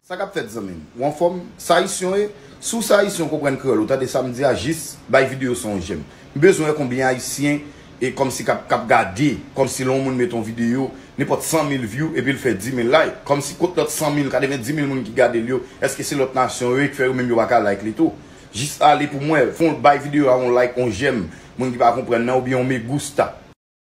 Sa kap fèt zanmim? Ou anfòm? Sa ayisyon ye? Si w se ayisyen ou konprann kreyòl ou tande sa m di a jis bay videyo sa yon jèm. M bezwen wè konbyen ayisyen e kòmsi kap kap gade kòmsi lè yon moun mete yon videyo nenpòt 100 mil view epi l fè 10 mil like kòmsi kot lòt 100 mil 90 mil moun ki gade l yo èske se lòt nasyon yo ye ki fè yo menm yo pa ka like li tou? Jis ale pou m wè fon bay videyo a yon like yon jèm moun ki pa konprann nan oubyen yon me gusta.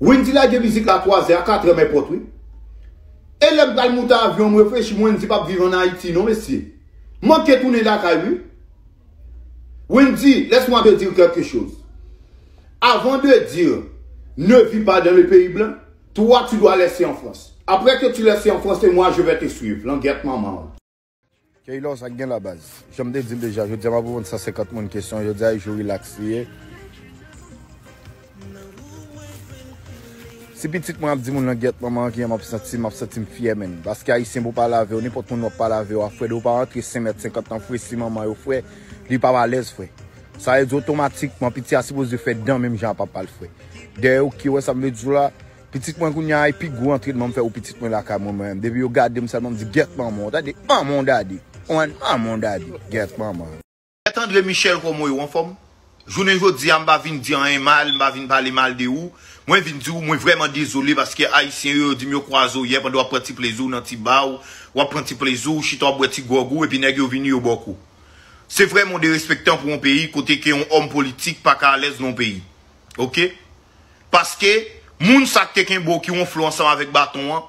Wendy lage mizik la 3 zè a 4 èm èpòt wi e lèm pral moute avyon m reflechi m Wendy pap viv an Ayiti non mesye m manke tounen lakay wi Wendy laisse moi te dire quelque chose avant de dire ne vis pas dans le pays blanc toi tu dois laisser en France après que tu laisser en France et moi je vais te suivre langyèt manman w. K-law sa gen la baz. Janm te dil deja jodia map reponn 150 moun kesyon jodia e jou relax li ye. Si pitit mwen ap di moun langyèt manman kijan map santim map santim fyè menn paske ayisyen pou pale avèw nenpòt moun wap pale avèw a frè dew pa rantre 5 mèt 50 nan fre si manman yo fre li pap alèz frè sa vle di otomatikman piti a sipoze fè dan menm jan a papal frè dèyèw ki wè sam vle diw la. Pitit mwen kounya a e pi gwo antrenman m fè ou pitit mwen lakay mwen mwen menm depi yo gadem sèlman m di gyèt manman w tande manman w dadi ou konprann manman w dadi gyèt manman w. Mèt Andre Michel kòman w ye ou anfòm? Jounen jodi a m pa vin di anyen mal m pa vin pale mal de ou mwen vin di w mwen vrèman dezole paske ayisyen yo yo di m yo kwaze w yè pandan w ap pran ti plezi w nan ti ba w w ap pran ti plezi w chita w ap bwè ti gwòg ou epi nèg yo vini yo ba w kou se vrèman w derespektan pou yon peyi kote ke yon òm politik pa ka alèz nan yon peyi ok. Paske moun sa k te kenbe w ki wonfle w ansanm avèk baton an,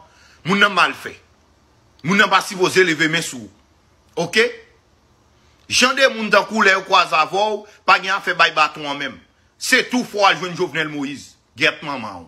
moun nan mal fè. Moun nan pa sipoze leve men sou ou. Ok? Jan de moun tankou w lè yo kwaze avè w, pa gen afè bay baton an menm. Se tou fò w al jwenn Jovenel Moïse. Gyèt manman w.